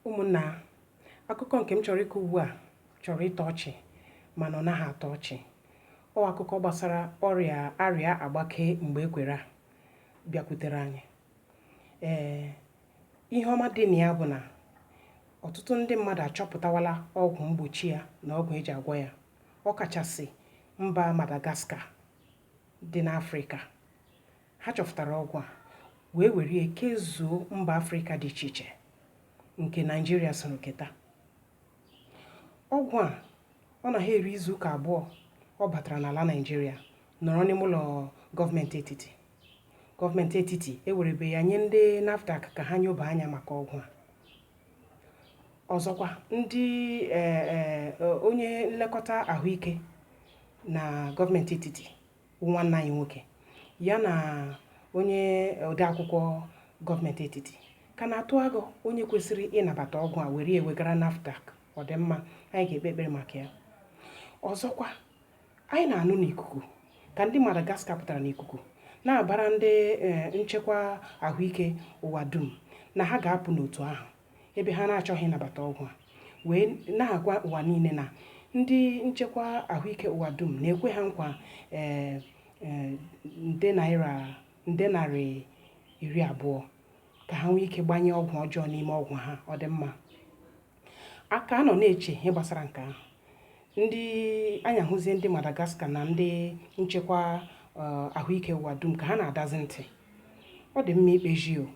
ụmụnna akụkọ nke m chọrọ ịkọ ugbu a chọrọ ịtọ ọchị mana ọ naghị atọ ọchị ọ akụkọ gbasara ọrịa arịa agbake mgbe ekwere a bịakwutere anyị ee ihe ọma dị na ya bụ na ọtụtụ ndị mmadụ achọpụtawala ọgwụ mgbochi ya na ọgwụ eji agwọ ya ọ kachasị mba Madagascar dị n'Afrịka Ha chọpụtara ọgwụ a wee were ya kezuo mba Afrịka dị iche iche nke Naịjirịa soro keta. Ọgwụ a ọ naghị eri izuụka abụọ ọ batara n'ala Naịjirịa nọrọ n'ime ụlọ gọọmenti etiti. Gọọmenti etiti ewerebe ya nye ndị NAFDAC ka ha nyoba anya maka ọgwụ a. Ọzọkwa, ndị e, e, onye nlekọta ahụike na gọọmenti etiti bụ nwanne anyị nwoke ya na onye odeakwụkwọ gọọmenti etiti ka na-atụ agụ onye kwesịrị ịnabata ọgwụ a were ewegara NAFDAC ọ dị mma anyị ga-ekpe ekpere maka ya ọzọkwa anyị na-anụ n'ikuku ka ndị Madagascar pụtara n'ikuku na-abara ndị eh, nchekwa ahụike ụwa dum na ha ga-apụ n'otu ahụ ebe ha na-achọghị ịnabata ọgwụ a wee na-agwa ụwa niile na ndị nchekwa ahụike ụwa dum na-ekwe ha nkwa ee nde naira nde narị iri abụọ ka ha nwee ike gbanye ọgwụ ọjọọ n'ime ọgwụ ha ọ dị mma a ka nọ na-eche ihe gbasara nke ahụ ndị anyị ahụzie ndị Madagascar na ndị nchekwa eh, ahụike ụwa dum ka ha na-adazi ntị ọ dị mma ikpezi o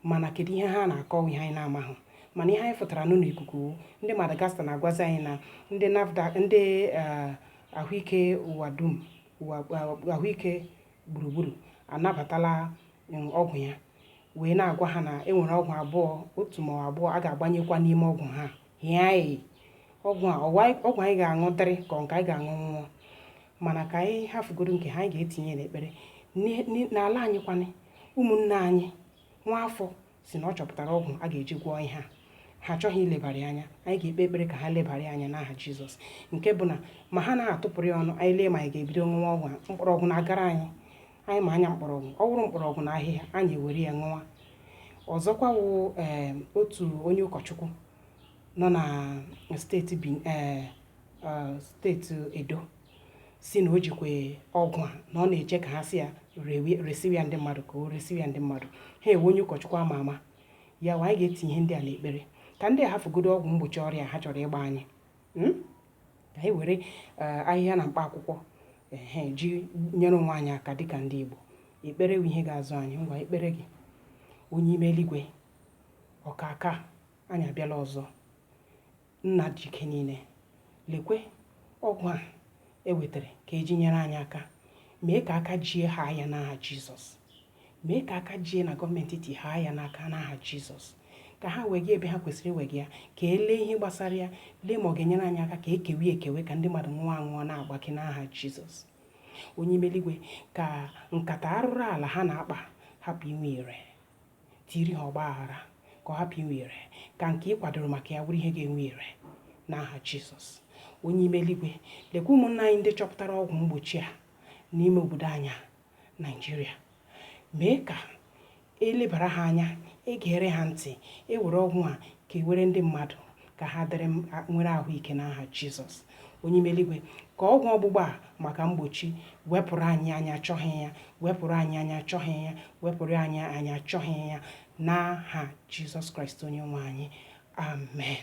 mana kedu ihe ha na-akọ wụ ihe anyị na-amaghị mana ihe anyị fụtara nụ n'ikuku wụ ndị Madagascar na-agwazi anyị na ndị NAFDAC ndị eh, ahụike ụwa dum ụwa eh, ahụike gburugburu anabatala mm, ọgwụ ya wee na-agwa ha na enwere ọgwụ abụọ otu ma ọ abụọ a ga-agbanyekwa n'ime ọgwụ ha hịa anyị ọgwụ a ọ wụ ọgwụ anyị ga-aṅụ dịrị ka nke anyị ga-aṅụ nwụọ mana ka anyị hafugodo nke ha anyị ga-etinye n'ekpere Ni- ni- n'ala anyị kwanị ụmụnne anyị nwa afọ sị na ọ chọpụtara ọgwụ a ga-eji gwọọ ihe a ha achọghị ilebara ya anya anyị ga-ekpe ekpere ka ha lebara ya anya n'aha jizọs nke bụ na ma ha na-atụpụrụ ya ọnụ anyị lee ma anyị ga-ebido ṅụwa ọgwụ a mkpọrọgwụ na-agara anyị anyị ma anya mkpọrọgwụ ọ wụrụ mkpọrọgwụ na ahịhịa anyị ewere ya ṅụwa ọzọkwa wụ ee otu onye ụkọchukwu nọ na steeti bin ee eh, steeti edo sị na o jikwa ọgwụ a na ọ na-eche ka ha sị ya rewe- resiwe ya ndị mmadụ ka o resiwe ya ndị mmadụ ha ewe onye ụkọchukwu ama ama ya wa anyị ga-etinye ihe ndị a n'ekpere ka ndị a hafugodo ọgwụ mgbochi ọrịa ha chọrọ ịgba anyị hmm? ka anyị were eh, ahịhịa na mkpa akwụkwọ ehe ji nyere onwe anyị aka dịka ndị Igbo ekpere bụ ihe ga-azọ anyị ngwa ekpere gị onye ime eluigwe ọkaka anyị abịala ọzọ nna ji ike niile lekwe ọgwụ a e wetara ka e ji nyere anyị aka mee ka aka jie ha anya n'aha Jizọs mee ka aka jie na gọọmenti iti haa ya n'aka n'aha Jizọs ka ha wegaa ebe ha kwesịrị iwega ya ka e lee ihe gbasara ya lee ma ọ ga-enyere anyị aka ka e kewe ekewe ka ndị mmadụ ṅụọ aṅụọ na-agbake n'aha Jizọs onye ime eluigwe ka nkata arụrụ ala ha na-akpa hapụ inwe ire tiiri ha ọgba aghara ka ọ hapụ inwe ire ka nke ị kwadoro maka ya bụrụ ihe ga-enwe ire n'aha Jizọs onye ime eluigwe lekwa ụmụnna anyị ndị chọpụtara ọgwụ mgbochi a n'ime obodo anyị a Nigeria mee ka e lebara ha anya e gere ha ntị e were ọgwụ a kewere ndị mmadụ ka ha dịrị nwere ahụike n'aha Jizọs onye ime eluigwe ka ọgwụ ọgbụgba a maka mgbochi wepụrụ anyị anyị achọghị ya wepụrụ anyị anyị achọghị ya wepụrụ anyị anyị achọghị ya n'aha Jizọs Kraịst onye nwe anyị amen